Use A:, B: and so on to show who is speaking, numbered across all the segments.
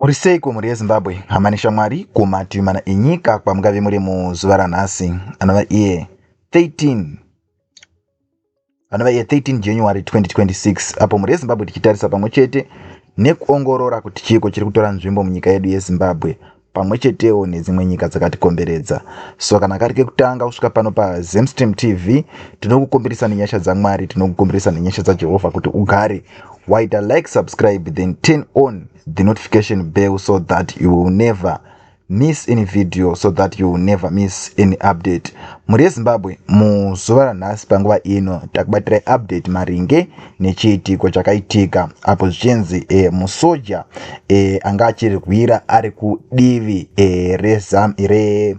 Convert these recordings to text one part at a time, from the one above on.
A: Muri seiko mhuri yeZimbabwe, hama neshamwari kumativi mana enyika kwamungave muri muzuva ranhasi anova iye 13 anova iye 13 January 2026 apo mhuri yeZimbabwe tichitarisa pamwe chete nekuongorora kuti chiiko chiri kutora nzvimbo munyika yedu yeZimbabwe pamwe chetewo nedzimwe nyika dzakatikomberedza so kana kari kekutanga kusvika pano pazemstream tv tinokukumbirisa nenyasha dzamwari tinokukumbirisa nenyasha dzajehovha kuti ugare waita like subscribe then turn on the notification bell so that you will never miss any video so that you will never miss any update mhuri yezimbabwe muzuva ranhasi panguva ino takubatirai update maringe nechiitiko chakaitika apo zvichinzi e, musoja e, anga achirwira ari kudivi e, rezam re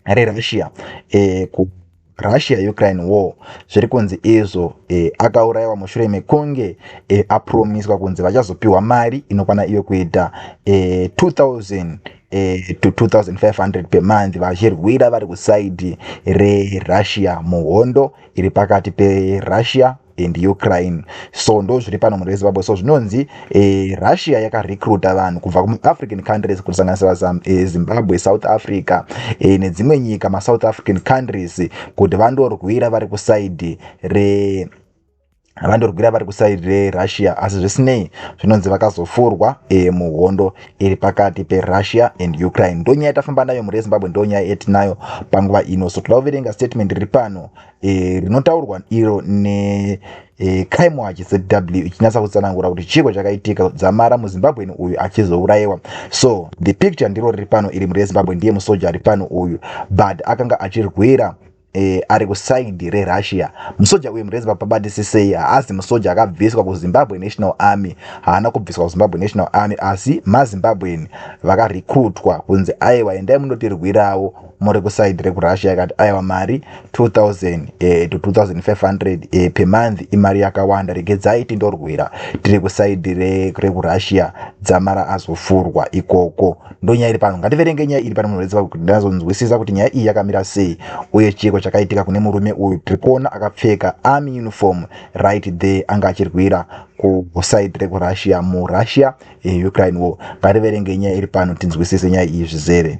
A: rerussia e, ku russia ukraine war zviri kunzi izvo e, akaurayiwa mushure mekunge e, apromiswa kunzi vachazopiwa mari inokwana iyo kuita e, 2000 e, to 2500 pemonth vachirwira vari kusaidi rerussia muhondo iri pakati perussia and ukraine so ndo zviri pano mhuri yezimbabwe so zvinonzi e, russia yakarecruta vanhu kubva kumaafrican countries kusanganisira e, zimbabwe south africa e, nedzimwe nyika masouth african countries kuti vandorwira vari kusaidi re vandorwira vari kusaidi rerussia asi zvisinei zvinonzi vakazofurwa e, muhondo iri pakati perussia and ukraine ndo nyaya yatafamba nayo mhuri yezimbabwe ndo nyaya yetinayo panguva ino so toda kuverenga statement riri pano e, rinotaurwa iro ne e, crime watch zw ichinyatsa kutsanangura kuti chiiko chakaitika dzamara muzimbabweni uyu achizourayiwa so the picture ndiro riri pano iri mhuri yezimbabwe ndiye musoja ari pano uyu but akanga achirwira eh, ari kusaindi rerussia musoja uyu mureziva pabatisisei haazi musoja akabviswa kuzimbabwe national army haana kubviswa kuzimbabwe national army asi mazimbabwen vakarekrutwa kunzi aiwa endai munotirwirawo muri kusaindi rekurussia ikati aiwa mari 2000 eh, to 2500 eh, pemonth imari yakawanda regedzai tindorwira tiri kusaindi rekurussia dzamara azofurwa ikoko ndonyaya iri pano ngativerenge nyaya iri pano munhu vese kuti ndazonzwisisa kuti nyaya iyi yakamira sei uye chiiko chakaitika kune murume uyu tiri kuona akapfeka army uniform right there anga achirwira kusaidi rekurussia murussia eh, ukraine war ngativerenge nyaya iri pano tinzwisise nyaya iyi zvizere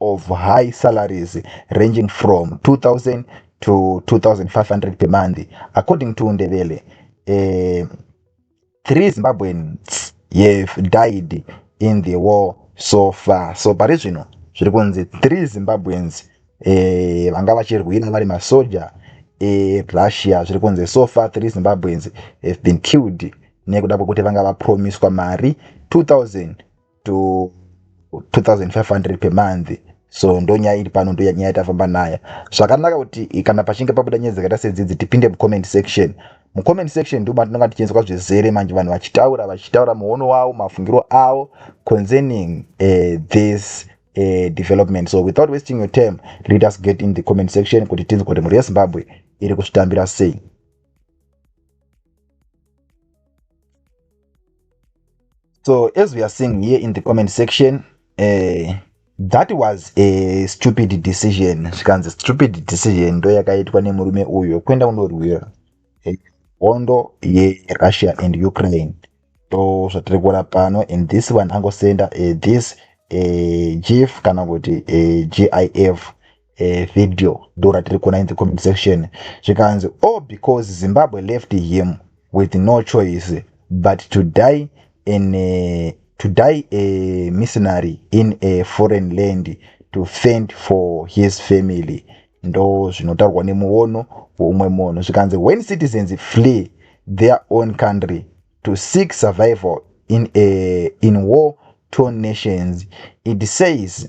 A: of high salaries ranging from 2000 to 2500 per month according to Ndebele uh, three Zimbabweans have died in the war so far so pari zvino zviri kunzi three Zimbabweans eh, vanga vachirwira vari masoja erussia eh, zviri kunzi so far three zimbabweans have been killed nekuda kwekuti vanga vapromiswa mari 2000 to 2500 per month so ndonyaya iri pano ndonyaya tafamba nayo zvakanaka kuti kana pachinge pabuda nyaya dzakaita sedzidzi tipinde mucomment section mucomment section nduma tinonga tichienzwa zvizere manje vanhu vachitaura vachitaura muono wavo mafungiro avo concerning uh, this uh, development so without wasting your time let us get in the comment section kuti tinzwa kuti mhuri yezimbabwe iri kuzvitambira sei so as we are seeing here in the comment section uh, that was a stupid decision zvikanzi stupid decision ndo yakaitwa nemurume uyo kuenda kunorwira eh, hondo yerussia and ukraine ndo zvatiri kuona pano and this one angosenda uh, this uh, chief kana kuti uh, gif eh, video ndo ratiri kuona in the comment section zvikanzi oh because zimbabwe left him with no choice but to die in a, to die a missionary in a foreign land to fend for his family ndo zvinotaurwa nemuono weumwe munhu zvikanzi when citizens flee their own country to seek survival in, a, in war torn nations it says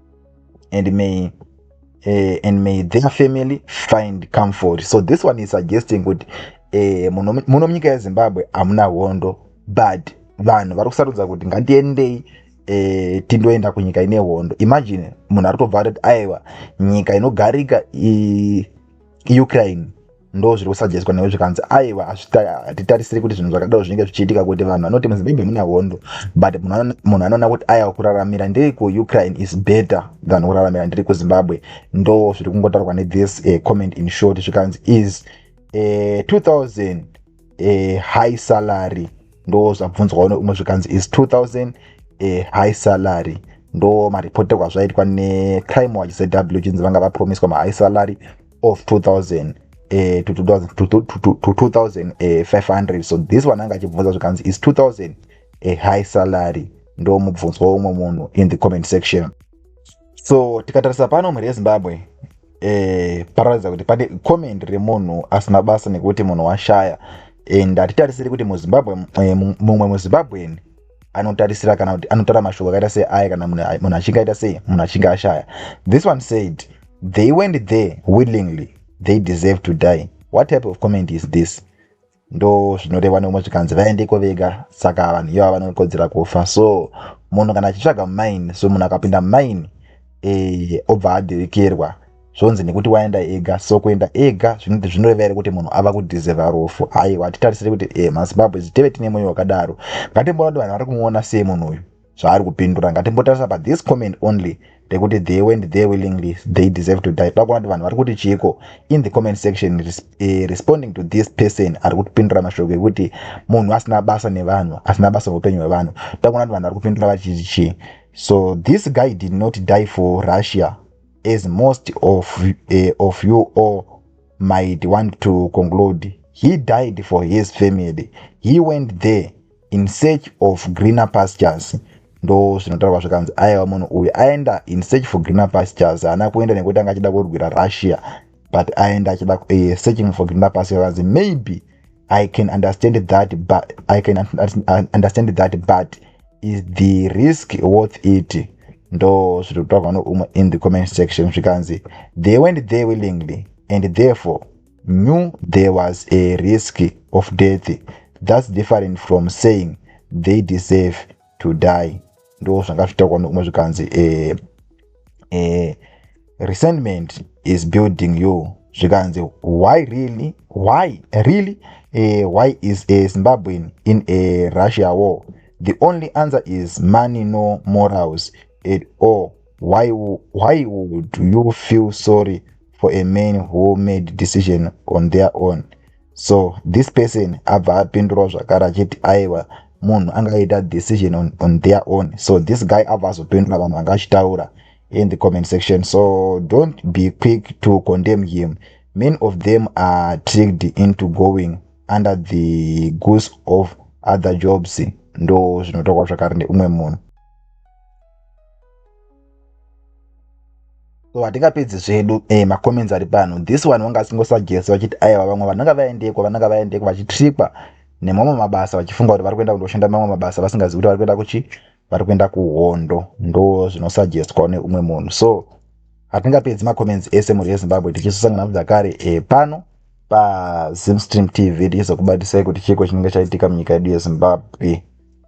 A: and may uh, and may their family find comfort so this one is suggesting kuti uh, muno munyika yezimbabwe hamuna hondo but vanhu vari kusarudza kuti ngatiendei E, tindoenda kunyika ine hondo imagine munhu ari tobva atoti aiwa nyika inogarika i, ukraine ndo zviri kusajeswa newe zvikanzi aiwa hatitarisiri kuti zvinhu zvakadaro zvinenge zvichiitika kuti vanhu vanoti muzimbabwe mune hondo but munhu anoona kuti aya kuraramira ndiri kuukraine is better than kuraramira ndiri kuzimbabwe ndo zviri kungotaurwa nethis uh, comment in short zvikanzi is uh, eh, 2000 uh, eh, high salary ndo zvabvunzwa one umwe zvikanzi is 2000 uh, high salary ndo maripoterwa zvaitwa necrime watch zw chinzi vanga vapromiswa mahigh salary of 2000 eh, to 2000 to, to, to, to 2500 eh, so this one anga achibvunza zvikanzi is 2000 a high salary ndo mubvunzwa womwe munhu in the comment section so tikatarisa pano mhuri yezimbabwe eh, pararatidza kuti pane comment remunhu asina basa nekuti munhu washaya and hatitarisiri kuti muzimbabwe eh, mumwe muzimbabweni anotarisira kana kuti anotara mashoko akaita sei aya kana munhu achinge aita sei munhu achinge ashaya this one said they went there willingly they deserve to die what type of comment is this ndo zvinoreva neumwe zvikanzi vaendeko vega saka vanhu iva vanokodzera kufa so munhu kana achitsvaga mine so munhu akapinda mine e, obva adirikerwa zvonzi nekuti waenda ega so kuenda ega zvinoti zvinoreva here kuti munhu ava kudhizeva rufu aiwa hatitarisire kuti e mazimbabwe ziteve tine mwoyo wakadaro ngatimboona kuti vanhu vari kumuona sei munhu uyu zvaari kupindura ngatimbotarisa pa this comment only ndekuti they went there willingly they deserve to die toda kuona kuti vanhu vari kuti chiiko in the comment section res, eh, responding to this person ari kupindura mashoko ekuti munhu asina basa nevanhu asina basa neupenyu hwevanhu toda kuona kuti vanhu vari kupindura vachiti chii so this guy did not die for russia as most of, uh, of you all might want to conclude he died for his family he went there in search of greener pastures ndo zvinotaurwa zvikanzi aiwa munhu uyu aenda in search for greener pastures haana kuenda nekuti anga achida kurwira russia but aenda achida uh, searching for grinda pasi vakanzi maybe i can understand that but i can understand that but is the risk worth it ndo zviri kutaurwa noumwe in the comment section zvikanzi they went there willingly and therefore knew there was a risk of death that's different from saying they deserve to die ndo zvanga zvitaurwa nekumwe zvikanzi eh, eh, resentment is building you zvikanzi why really why really eh, why is a zimbabwean in a russia war the only answer is money no morals at all why, why would you feel sorry for a man who made decision on their own so this person abva apindurwa zvakare achiti aiwa munhu anga aita decision on, on their own so this guy abva azopindura vanhu vanga achitaura in the comment section so don't be quick to condemn him many of them are tricked into going under the goose of other jobs ndo zvinotokwa zvakare neumwe munhu so hatingapedzi zvedu e eh, macomments ari pano this one wanga asingosagesi vachiti aiwa vamwe vananga vaendeko vananga vaendeko vachitrikwa nemamwe mabasa vachifunga kuti vari kuenda kundoshanda mamwe mabasa vasingazivi kuti vari kuenda kuchi vari kuenda kuhondo ndo zvinosagestwa neumwe munhu so hatingapedzi macomments ese mhuri yezimbabwe tichisosangana zvakare e eh, pano pazimstream tv tichizokubatisai kuti chiiko chinenge chaitika munyika yedu yezimbabwe